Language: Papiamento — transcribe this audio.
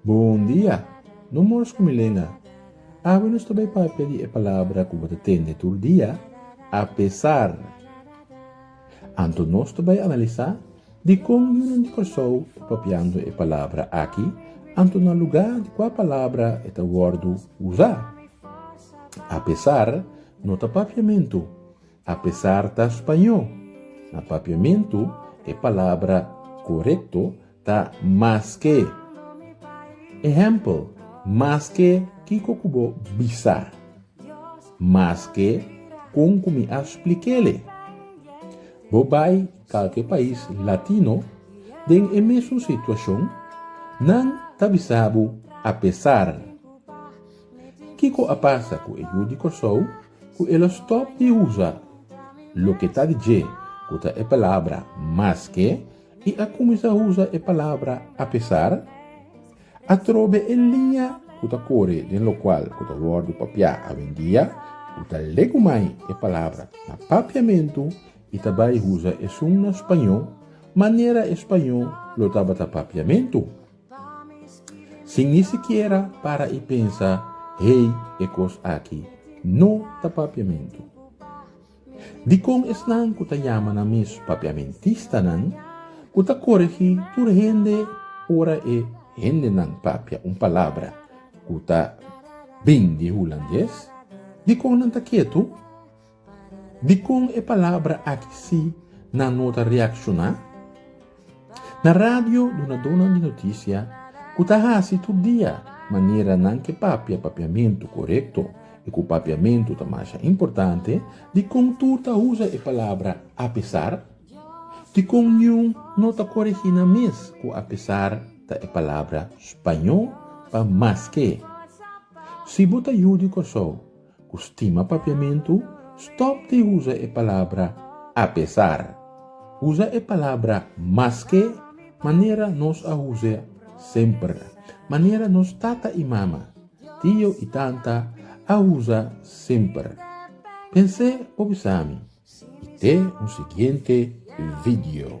Bon dia! No mors ku mi Lena. Awe nos ta bai papia di e palabra ku bo ta tende tur dia, a pesar. Anto nos ta bai analisá dikon yunan di Kòrsou e propiando e palabra aki, anto na lugá di kua palabra e ta wòrdu usá. Apesar no ta papiamentu, apesar ta spañó, na papiamentu e palabra korekto Ta maske. Ehèmpel, Maske kiko ku bo bisa. Maske kon ku mi a splik'ele. Bo bai kalke pais latino den e mesun situashon, nan ta bisa bo apesar. Kiko a pasa ku e yu di Kòrsou ku e lo stòp di usa loke ta di dje ku ta e palabra maske? i a kuminsá usa e palabra apesar atrobe e liña ku ta kore den lokual ku ta wòrdu papiá awendia, ku ta legu mai e palabra na papiamentu i ta bai usa esun na spañó manera e spañó lo tabata papiamentu, sin ni sikiera para i pensa, Hei, e kos aki no ta papiamentu. Dikon esnan ku ta yama nan mes papiamentistanan ku ta koregí tur hende ora e hendenan papia un palabra ku ta bin di hulandes? Dikon nan ta ketu? Dikon e palabra aki sí nan no ta reakshoná? Na radio, dunadonan di notisia ku ta hasi tur dia manera nan ke papia papiamentu korekto i ku papiamentu ta masha importante, dikon tur ta usa e palabra apesar? Dikon niun no ta koregí nan mes ku apesar ta e palabra spañó pa maske? Si bo ta yu di Kòrsou, Ku stima papiamentu, stòp di usa e palabra apesar. Usa e palabra maske manera nos a usa semper, manera nos tata i mama, tio i tanta a usa semper. Pens'é pa bisa mi i te un siguiente video.